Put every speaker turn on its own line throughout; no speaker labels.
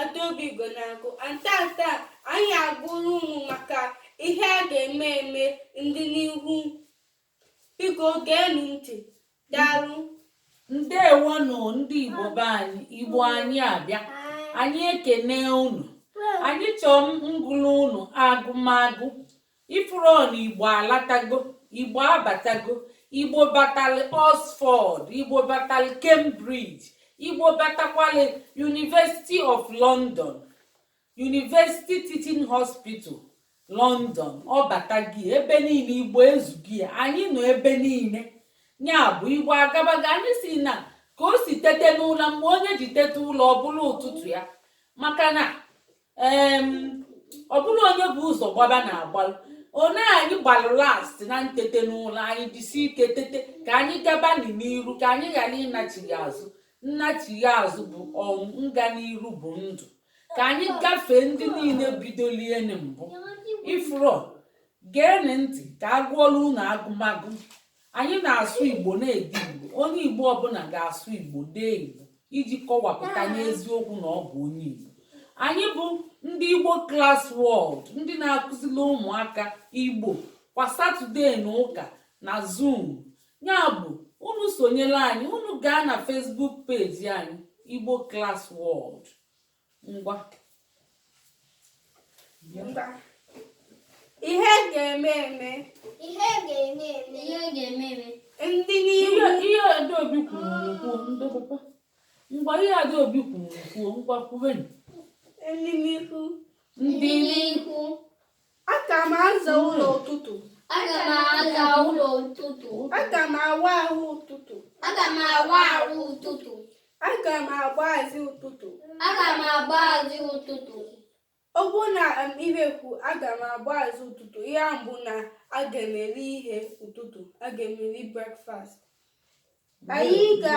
Adaobi Ugonagụ and taata anyị agụrụ unu maka ihe a ga-eme eme ndịniihu biko geenụ ntị daalụ
ndewonụ ndị Igbo be anyị Igbo anyị abịa anyị ekene unu anyị chọọ ngụlụ unu agụmagụ Ị fụrọ na Igbo alatago, Igbo abatago, Igbo batalị Oxford, Igbo batalị Cambridge, Igbo batakwalị University of London, University Teaching Hospital, London, ọ bata gị ebe niile Igbo ezughị ya, anyị nọ ebe niile. Nya bụ Igbo agabago anyị sị na ka o si tete n'ụla mgbe onye ji teta ụla ọ bụlụ ụtụtụ ya maka na ọ bụrọ onye bu ụzọ gbaba na-agbalụ one anyị gbalụ last na ntete n'ụla anyị jisi ike tete ka anyị gaba n'iru ka anyị ghara ịnachigha azụ nnachigha azụ bụ ọnwụ nga n'iru bụ ndụ ka anyị gafee ndị niile bidolie mbụ ị fụrọ geenị ntị ka a gụọla unu agụmagụ anyị na-asụ igbo na-ede igbo onye igbo ọbụla ga-asụ igbo dee igbo iji kọwapụta n'eziokwu na ọ bụ onye igbo anyị bụ ndị igbo class world ndị na-akụzili ụmụaka igbo kwa satọde na ụka na zoom nya bụ unu sonyela anyị unu gaa na facebook page anyị igbo class world ngwa
ngwa ihe ga-eme eme ihe ga-eme eme ihe ga-eme eme ndịniihu ihe
adaobi kwuru kwuo ndị papa ngwa ihe adaobi kwuru kwuo ngwa kwubenụ ndịniihu
ndịniihu Aga m aza ụlọ ụtụtụ. Aga m
aza ụlọ ụtụtụ. Aga m
awụ ahụ ụtụtụ. Aga m awụ
ahụ ụtụtụ. Aga m
agba azị ụtụtụ. Aga m agba
azị ụtụtụ. Ọ
bụ na um, ihe kwu aga m agba azị ụtụtụ nya bụ na aga m eri ihe ụtụtụ aga m eri breakfast. Anyị ga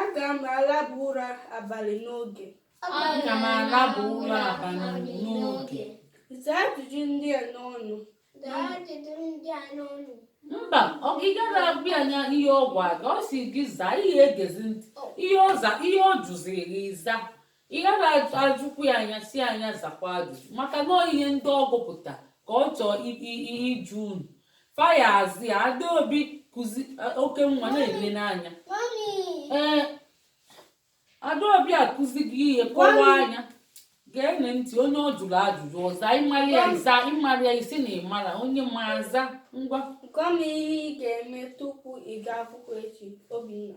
Aga m alaba ụra abalị n'oge. Aga
m alaba ụra abalị n'oge. Zaa ajụjụ
ndị a n'ọnụ. Zaa ajụjụ ndị a
n'ọnụ. Mba, ọ gị gara agwa ya anya ihe ọ gwa gị, ọ sị gị zaa ihe egezi ntị. Ihe ọ za, ihe ọ jụziri gị za. Ị gaghị ajụkwu ya anya si anya zakwa ajụjụ maka na ihe ndị ọ gụpụta ka ọ chọọ ịjụ unu faya azụ ya adaobi kụzi e, oke nwa na-ele n'anya ee adaobi akụzi gị ihe kọwaa anya geenụ ntị onye ọ jụrụ ajụjụ ọ za ị mara ya ị za ị marọ ya ị sị na ị marọ onye ma aza ngwa gwa m ihe ị
ga-eme tupu ị gaa akwụkwọ echi obinna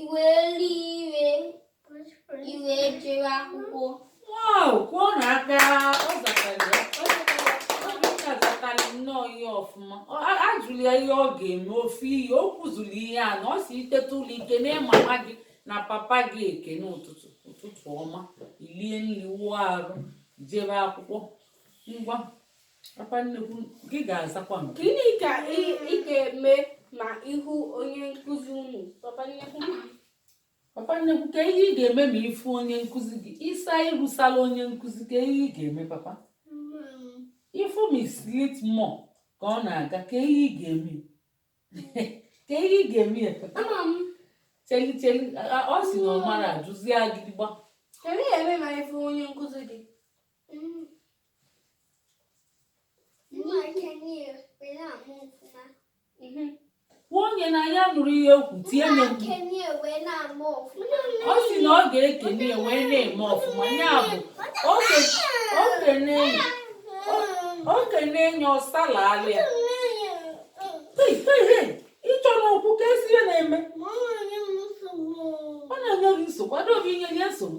iwe elu ire i wee jee akwụkwọ wow
kụọnụ aka ọ zatara ya ọ zatara ya ọ dịka zatara nnọọ ihe ọfụma Ọ- a- ajụrụ ya ihe ọ ga-eme ofu ihe o kwuzuru ihe anọ ọ sị i teta ụla i kenee mama gị na papa gị ekene ụtụtụ ụtụtụ ọma i lie nri wụọ arụ jebe akwụkwọ ngwa Papa nnukwu, gị ga-azakwa m. Gịnị ka
ị ị ga-eme ma ị hụ onye nkụzi unu? Papa nnukwu, Papa
nnukwu, kee ihe ị ga-eme ma ị fụ onye nkụzi gị? Ịsa ịrụsala onye nkụzi, kee ihe ị ga-eme papa? Ị fụ Miss Litmore ka ọ na-aga, kee ihe ị ga-eme? Kee ihe ị ga-eme ya papa? ama m Cheli cheli, a- a- ọ sị na ọ mara ajụzi agịdịgba. kee ị ga-eme
ma ị fụ onye nkụzi gị.
onye na ya nụrụ ihe o kwu tie nye ọ sị na ọ ga-ekene ya wee na-eme ọfụma ya bụ okenye enye ọsala alịa ị chọ n'okwu ka esi ihe na-eme ọ na-enye gị nsogbu adaobi inye nye nsogbu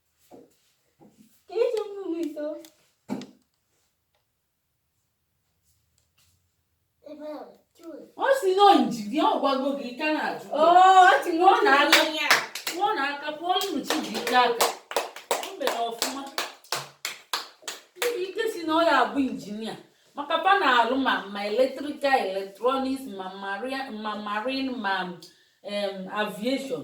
ọ sị na injinia ọ gwago gị ị ka na-ajụ ọ na-aka ọ na-aka kụọlụnụ Chijioke aka o mere ọfụma ike sị na ọ ya-abụ injinia maka fa na-alụ ma ma eletrikal eletrọniks ma marine ma aviation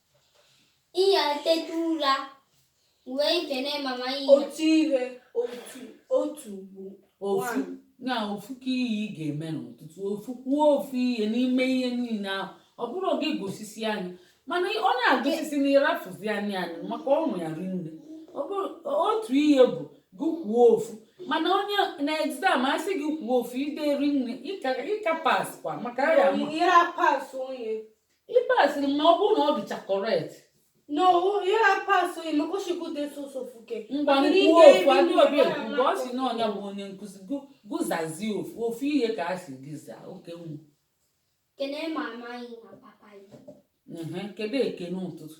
ị ya-eteta ụra wee kene mama yi otu
ihe otu otu bụ ofu one.
na ofu kee ihe ị ga-eme n'ụtụtụ ofu kwuo ofu ihe n'ime ihe niile ahụ ọ bụrọ gị gụsisie anyị mana ọ na-agụsisi na ịrafụzi anyị anyị maka ọnụ ya rinne Ọ bụrụ otu ihe bụ gị kwuo ofu mana onye na egzam a sị gị kwuo ofu i dee rinne ị ga-apaskwa maka ya ma ị ya-apas onye ị pasịrị ma ọ bụrụ na ọ dịcha correct
No, ị ya-apas maka ọ sị gị dee sọsọ ofu. ngwa Akịrị kwuo ike
ofu Adaobi mara mgbe ọ sị na ọ nya bụ onye nkụzi gụ- gị zazie ofu ofu ihe ka a sị gị zaa oke nwu Kene
mama yi na papa yi. Ehe, kedu ekene
ụtụtụ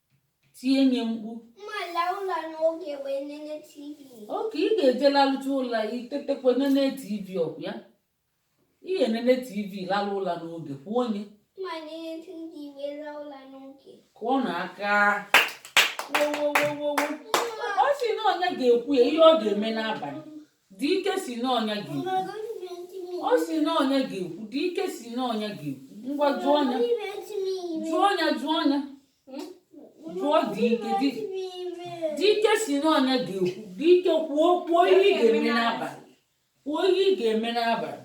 tie nye mkpu okay ị ga-eje lalụcha ụla i tetakwa nene tv ọ kwa ya ị ga-enene tv lalụ ụla n'oge kụọnụ ya kụọnụ aka ọ sị na onye ga-ekwu ya ihe ọ ga-eme n'abalị Dike sị n'ọ nya ga ọ sị n'ọ nya ga-ekwu Dike sị n'ọ nya ga-ekwu ngwa jụọ ọnya jụọ ọnya jụọ ọnya jụọ Dike Dike sị n'ọ nya ga-ekwu Dike kwuo kwuo ihe ị ga-eme n'abalị kwuo ihe ị
ga-eme n'abalị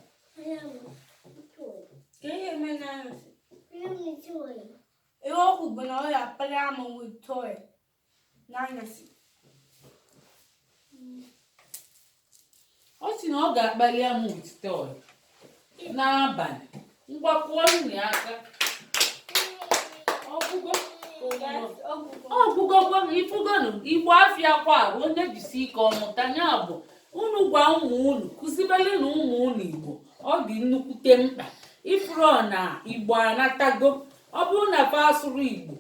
Ihe o kwu bụ na ọ ya-akpali amụ with toy.
n'anyasị ọ sị na ọ ga-akpali amụ with toy n'abalị ngwa kụọ nụ aka ọ gwụgo ọ gwụgo gwa m ị fụgonụ igbo afịa kwa bụ onye jisi ike ọ mụta ya bụ unu gwa ụmụ unu kụzibere nụ ụmụ unu igbo ọ dị nnukwute mkpa ị fụrụ na igbo anatago ọ bụrụ na fa asụrụ igbo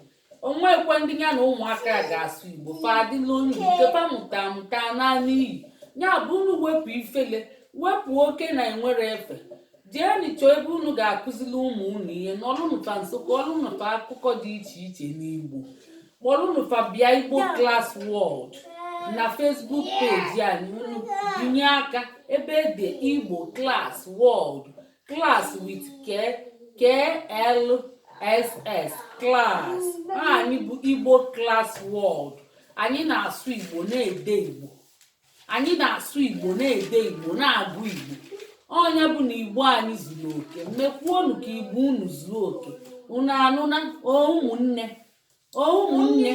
o nwekwa ndị ya na ụmụaka ga-asụ igbo fa adịla onye nke fa mụta mụta naanị iyi ya bụ unu wepụ ifele wepụ oke na enwere efe jee nụ chọọ ebe unu ga-akụzili ụmụ unu ihe nọlụ nụ fa nso kọọlụ nụ fa akụkọ dị iche iche n'igbo kpọrọ nụ fa bịa igbo class world na facebook page anyị unu binye aka ebe e de igbo class world class with k k l s s class anyị bụ igbo class world anyị na-asụ igbo na-ede igbo anyị na-asụ igbo na-ede igbo na-agụ igbo onye ọbụna igbo anyị zuru oke mekwuonụ ka igbo unu zuo oke unu anụna ụmụnne O ụmụnne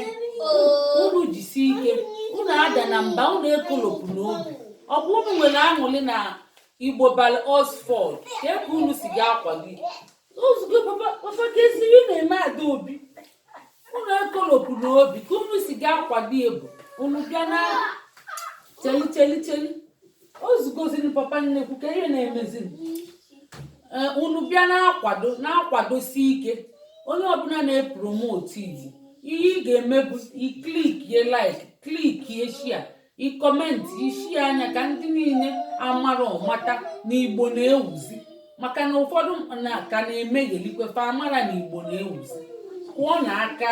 unu jisi ike unu adana mba unu ekolopụna obi ọ bụ unu nwere aṅụrị na igbo balụ oxford ka ebe unu si ga akwa gị ozugbo papa papa kesiri unu eme ada obi unu ekolopụna obi ka unu si ga-akwado ebu unu bịa na cheli cheli cheli ozugoziri papa nnekwu ka ihe na-emezi eh, unu bịa na-akwado na-akwadosi ike onye ọbụla na-epromote igbo ihe ị ga-eme bụ ị clickie like clickie share ị commentị ị share ya ka ndị niile amarọ mata na igbo na-ewuzi maka na ụfọdụ na ka na-emeghelikwe fa amarọ na igbo na-ewuzi kụọ nụ aka